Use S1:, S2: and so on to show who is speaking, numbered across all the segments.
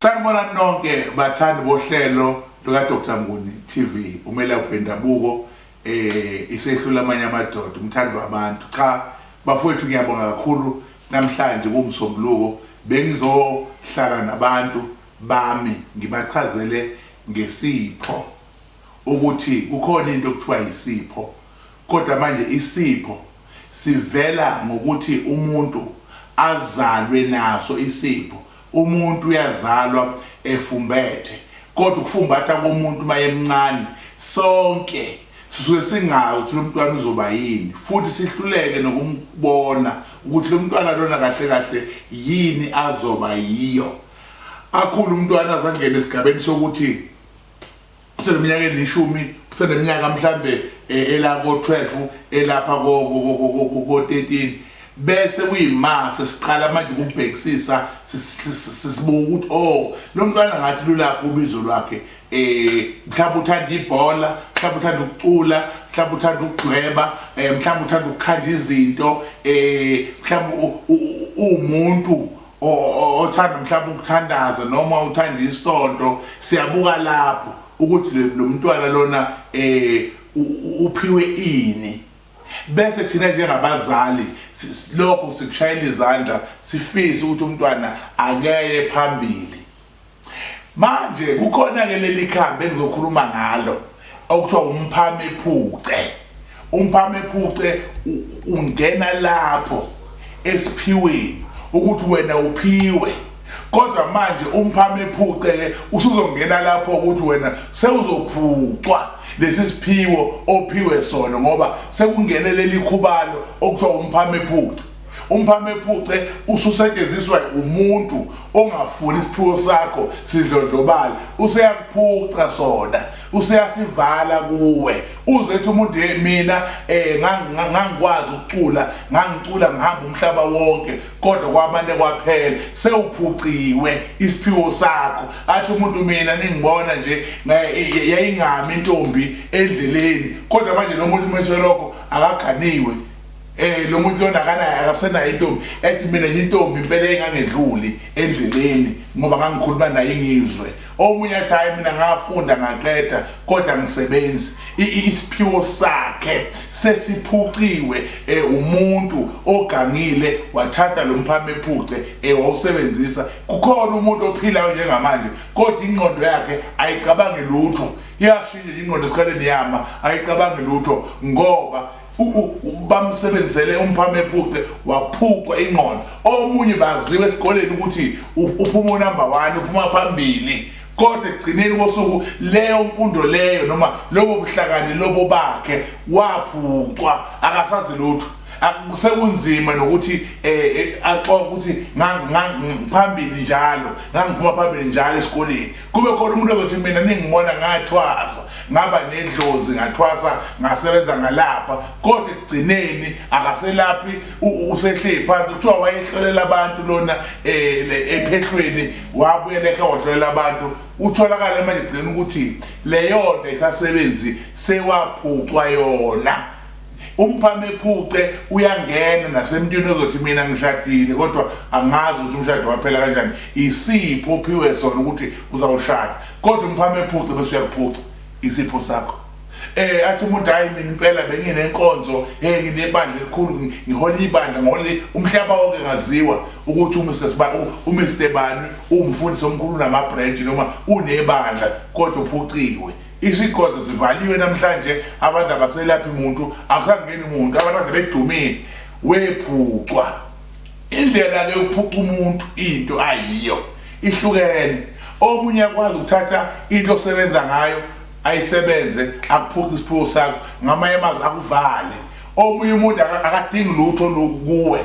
S1: Sanibona nonke bathandi bohlelo luka Dr Nguni TV umelaphi wendabuko eh isehlula amanye amadoda umthandi wabantu cha bafowethu ngiyabonga kakhulu namhlanje kumsombuluko bengizohlala nabantu bami ngibachazele ngesipho ukuthi kukhona into okuthiwa yisipho kodwa manje isipho sivela ngokuthi umuntu azalwe naso isipho umuntu uyazalwa efumbethe kodwa ukufumbatha komuntu mayemncane sonke sisuke singazi ukuthi lomntwana uzoba yini futhi sihluleke nokumbona ukuthi lomntwana lona kahle kahle yini azoba yiyo akhulu umntwana azangena esigabeni sokuthi useneminyaka elishumi useneminyaka mhlambe eh, elako 12 elapha ko 13 bese kuyima sesiqala manje ukubhekisisa sisibuka ukuthi oh lo mntwana ngathi lulapho ubizo lwakhe eh mhlawumbe uthanda ibhola mhlawumbe uthanda ukucula mhlawumbe uthanda ukudweba eh, mhlawumbe uthanda ukukhanda izinto eh mhlawumbe umuntu othanda mhlawumbe ukuthandaza noma uthanda isonto siyabuka lapho ukuthi lo mntwana lona um uphiwe ini bese thina njengabazali lokho sikushayela izandla sifise ukuthi umntwana akeye phambili Manje kukhona ke leli khambi engizokhuluma ngalo okuthiwa umphamephuce. Umphamephuce ungena lapho esiphiweni ukuthi wena uphiwe. Kodwa manje umphamephuce ke usuzongena lapho ukuthi wena sewuzophucwa lesi siphiwo ophiwe sona ngoba sekungene leli khubalo okuthiwa umphamephuce. umphamephuce ususetshenziswa umuntu ongafuni isiphiwo sakho sidlondlobale useyakuphuca sona useyasivala kuwe uze ethi umuntu hey mina eh ngangikwazi ukucula ngangicula ngihamba umhlaba wonke kodwa kwamane kwaphela sewuphuciwe isiphiwo sakho athi umuntu mina ningibona nje yayingami intombi endleleni kodwa manje lo muntu umeshe lokho akaganiwe Eh lo muntu lona akanayo akasenayo intombi ethi mina nje intombi impela engangedluli endleleni ngoba ngangikhuluma naye ngizwe omunye athi hayi mina ngafunda ngaqeda kodwa ngisebenzi isiphiwo sakhe sesiphuciwe eh, umuntu ogangile wathatha lo mphame ephuce eh, wawusebenzisa kukhona umuntu ophilayo njengamanje kodwa ingqondo yakhe ayicabangi lutho iyashintsha ingqondo esikhaleni yama ayicabangi lutho ngoba bamsebenzele umphame ephuce waphucwa ingqondo omunye baziwe esikoleni ukuthi uphuma unumber one uphuma phambili kodwa ekugcineni kosuku leyo mfundo leyo noma lobo buhlakani lobo bakhe waphucwa akasazi lutho akusekunzima nokuthi um axoke ukuthi phambili njalo ngangiphuma phambili njalo esikoleni kube khona umuntu ozothi mina ningibona ngathwasa ngaba nedlozi ngathwasa ngasebenza ngalapha kodwa ekugcineni akaselaphi usehleli phansi kuthiwa wayehlolela abantu lona eh, ephehlweni wabuyela ekhaya wahlolela abantu utholakale manje gcina ukuthi leyonto isasebenzi sewaphucwa yona umphame ephuce uyangena nasemntwini ozothi mina ngishadile kodwa angazi ukuthi umshado waphela kanjani isipho ophiwe sona ukuthi uzawushada kodwa umphame ephuce bese uyakuphuca isipho sakho eh athi umuntu hayi mina impela benginenkonzo hey nginebandla elikhulu ngihola ibandla ngohola umhlaba wonke ngaziwa ukuthi uMr Sibani uMr Bani umfundisi omkhulu nama branch noma unebandla kodwa uphuciwe Izigodlo zivaliwe namhlanje abantu abaselaphi muntu akusangeni muntu abantu kade bedumile wephucwa indlela ke ukuphuca umuntu into ayiyo ihlukene omunye akwazi ukuthatha into osebenza ngayo ayisebenze akuphuca isiphiwo sakho ngamanye amazwi akuvale omunye umuntu akadingi lutho lokuwe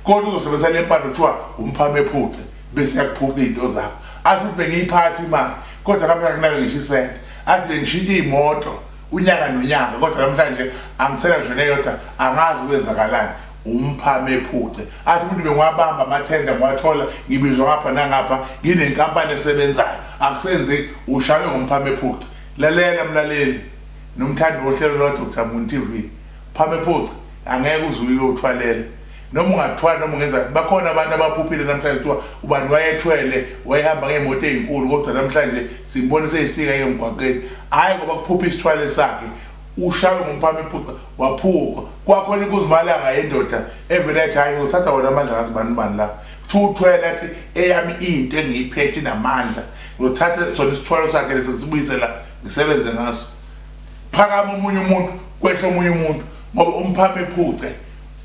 S1: kodwa uzosebenzisa le mpande kuthiwa umphame ephuce bese yakuphuca izinto zakho athi ukuthi bengiyiphathi imali kodwa namhlanje kunake ngisho isente athi bengishintshe iy'moto unyaka nonyaka kodwa namhlanje angisela ngisho neyodwa angazi kwenzakalani umphama ephuce athi ukuthi bengiwabamba amathenda ngiwathola ngibizwa ngapha nangapha nginenkampani esebenzayo akusenzeki ushaywe ngomphama ephuce lalela mlaleli nomthandi wohlelo lwa-dr moon tv phama ephuce angeke uze uyothwalela noma ungathwali noma ungenzani bakhona abantu abaphuphile namhlanje kuthiwa ubani wayethwele wayehamba ngey'moto ey'nkulu kodwa namhlanje simbone seyisika emgwaqeni hhayi ngoba kuphupha isithwale sakhe ushawe ngumphama iphuca waphupha kwakhona inkuzimalanga yendoda evele yathi hhayi ngizothatha wona amandla ngazi bani bani la kuthiwa uthwele athi eyami into engiyiphethe inamandla ngizothatha sona isithwalo sakhe lesi ngisibuyisela ngisebenze ngaso phakama omunye umuntu kwehla omunye umuntu ngoba umphama ephuce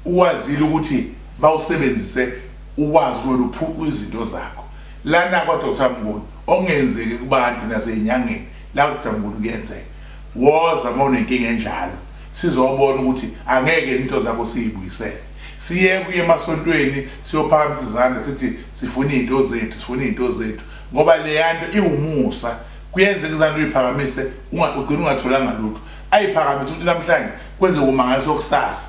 S1: Uwazile ukuthi bawusebenzise uwazi wena uphuqwa izinto zakho. Lana kwa Dr Mnguni okungenzeki kubantu nasezinyangeni la Dr Mnguni kuyenzeka. Woza uma unenkinga enjalo sizobona ukuthi angeke into zakho siyibuyisele. Siye kuye emasontweni siyophakamisa izandla sithi sifuna izinto zethu sifuna izinto zethu ngoba leyanto iwumusa kuyenzeka izandla uyiphakamise ugcina ungatholanga lutho ayiphakamise ukuthi namhlanje kwenze kumangaliso kusasa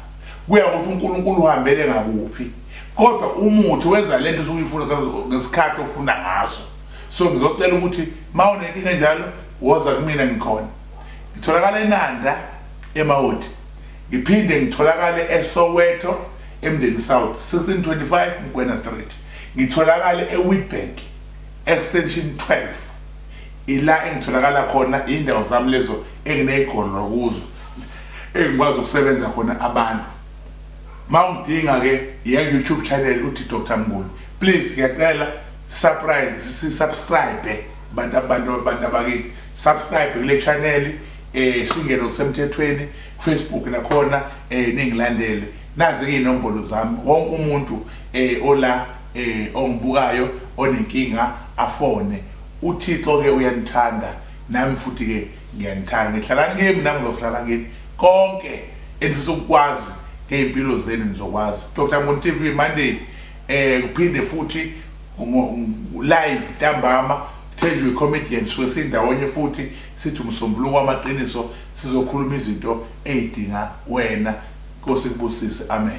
S1: kuya ukuthi uNkulunkulu uhambele ngakuphi kodwa umuthi wenza lento usuke uyifuna ngesikhathi ofuna ngaso so ngizocela ukuthi uma unenkinga enjalo woza kumina ngikhona ngitholakala enanda emawoti ngiphinde ngitholakale esoweto emndeni south 1625 mgwena street ngitholakale ewitbank extension 12 ila engitholakala khona iy'ndawo zami lezo engineyigolo kuzo engikwazi ukusebenza khona abantu ma ungidinga ke ya YouTube channel uthi Dr Mnguni please ngiyacela surprise si subscribe bantu abantu abantu abakithi subscribe kule channel eh singene kusemthethweni Facebook nakhona eh ningilandele nazi ke inombolo zami wonke umuntu eh ola eh ongibukayo onenkinga afone uThixo ke uyanithanda nami futhi ke ngiyanithanda ngihlala kimi nami ngizohlala kimi konke engifisa ukukwazi ngey'mpilo zenu nizokwazi dr mboni tv monday um kuphinde futhi live ntambama thenjwe i-comedian suke sindawonye futhi sithi umsombuluko wamaqiniso sizokhuluma izinto ey'dinga wena nkosi kubusise amen